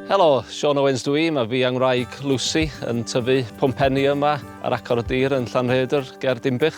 Helo, Sean Owens dw i, mae fi angwraig Lucy yn tyfu pwmpenni yma ar acor y dir yn Llanrhaeadr ger Dinbych.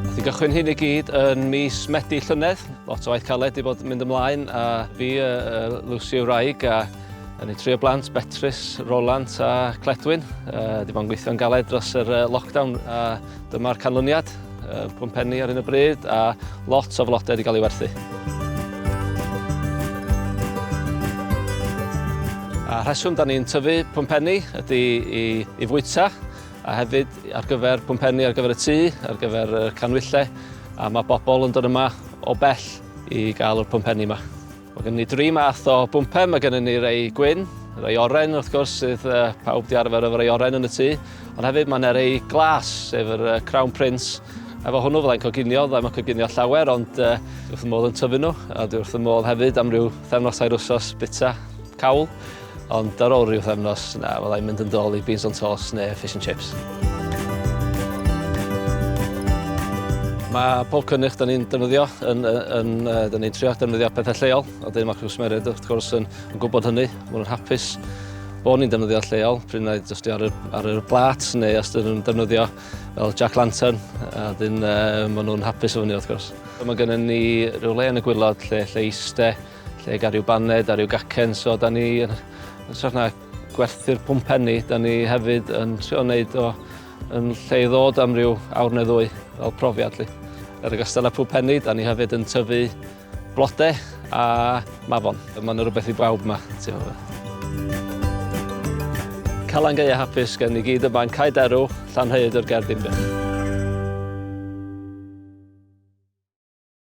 Nath i gychwyn hyn i gyd yn mis Medi llynedd, lot o waith caled i bod yn mynd ymlaen a fi, uh, uh, Lucy yw wraig a Yn ei trio blant, Betrus, Roland a Cledwyn. Uh, di bo'n gweithio'n galed dros yr uh, lockdown a Dyma'r canlyniad, pum penni ar hyn o bryd a lot o flodau wedi cael ei werthu. A rheswm da ni'n tyfu pum penni ydy i, i fwyta a hefyd ar gyfer pum penni ar gyfer y tŷ, ar gyfer y canwyllau a mae bobl yn dod yma o bell i gael yr pum penni yma. Mae gynnon ni dri math o bwmpen, mae gynnon ni rei gwyn, rei oren wrth gwrs sydd uh, pawb di arfer efo rei oren yn y tŷ, ond hefyd mae yna rei glas, sef yr uh, Crown Prince, efo hwnnw fyddai'n coginio, fyddai'n mae'n coginio llawer, ond uh, dwi wrth y modd yn tyfu nhw, a dwi wrth y modd hefyd am ryw thefnos air wsos bita cawl. Ond ar ôl rhyw pythefnos, na, fydda i'n mynd yn dol i beans on toast neu fish and chips. Mae pob cynnych da ni'n defnyddio yn, yn, da ni'n trio defnyddio pethau lleol, a dyn mae cwsmeriaid wrth gwrs yn, yn gwybod hynny, maen nhw'n hapus bod ni'n defnyddio lleol, pryd na jyst i ar y, ar y blat neu os dyn nhw'n defnyddio fel Jack Lantern, a dyn uh, maen nhw'n hapus o fyny wrth gwrs. Mae gennym ni rhyw le yn y gwylod lle, lle eiste, Lle ga' ryw baned a ryw gacen so 'dan ni yn hytrach na gwerthu'r pwmpenni 'dan ni hefyd yn trio neud o yn lle i ddod am ryw awr ne' ddwy fel profiad 'lly. Yn ogystal â pwmpenni 'dan ni hefyd yn tyfu blode a mafon. A ma' 'na rwbeth i bawb 'ma ti'o' yy. Calan Gaea hapus gen ni gyd yma yn Cae Derw, Llanrhaeadr ger Dinbych.